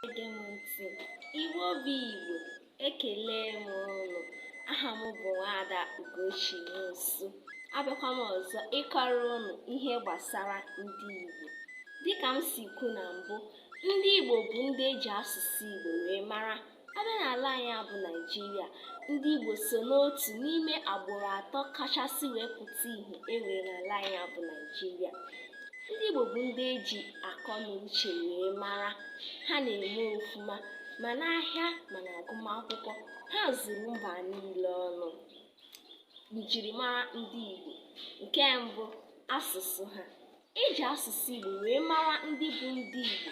Ege m ntị, Igbo bụ Igbo, ekele m ụnụ. Aha m bụ Nwaada Ugochi Nwosu. Abịakwa m ọzọ ịkọrọ ụnụ ihe gbasara ndị Igbo. Dịka m si kwu na mbụ, ndị Igbo bụ ndị eji asụsụ Igbo wee mara. Abịa n'ala anyị bụ Naịjirịa, ndị Igbo so n'otu n'ime agbụrụ atọ kachasị wee pụta ìhè e nwere n'ala anyị bụ Naịjirịa. ndị Igbo bụ ndị eji akọ na uche wee mara ha na-eme ofuma ma n'ahịa ma n'agụmakwụkwọ ha zuru mba niile ọnụ njirimara ndị Igbo nke mbụ asụsụ ha eji asụsụ Igbo wee mara ndị bụ ndị Igbo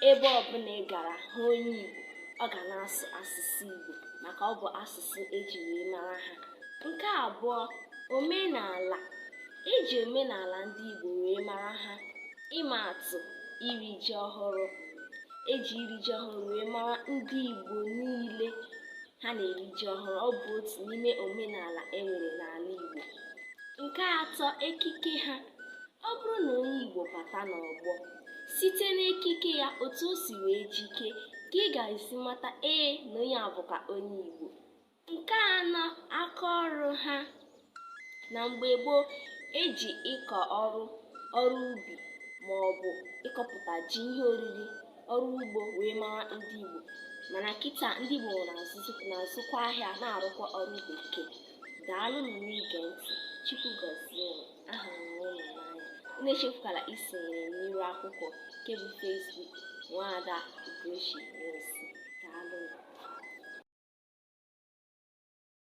ebe ọbụla ị gara hụ onye Igbo ọ ga na-asụ asụsụ Igbo maka ọ bụ asụsụ eji wee mara ha nke abụọ omenala E ji omenala ndị Igbo wee mara ha. Ịma atụ, iri ji ọhụrụ. E ji iri ji ọhụrụ wee mara ndị Igbo niile ha na-eri ji ọhụrụ. Ọ bụ otu n'ime omenala e nwere n'ala Igbo. Nke atọ, ekike ha. Ọ bụrụ na onye Igbo bata n'ọgbọ, site n'ekike ya otu o si wee jike ka ị ga-esi mata ee na onye a bụkwa onye Igbo. Nke anọ aka ọrụ ha na mgbe gboo eji ịkọ ọrụ ọrụ ubi ma ọ bụ ịkọpụta ji ihe oriri ọrụ ugbo wee mara ndị Igbo mana kịta ndị Igbo na-azụkwa ahịa na-arụkwa ọrụ bekee daalụnụ n'ige ntị Chukwu gọzie ahụrụ m unu n'anya unu echefukwala isonyere m n'iru akwụkwọ nke bụ Facebook nwaada Ugochi Nwosu daalụ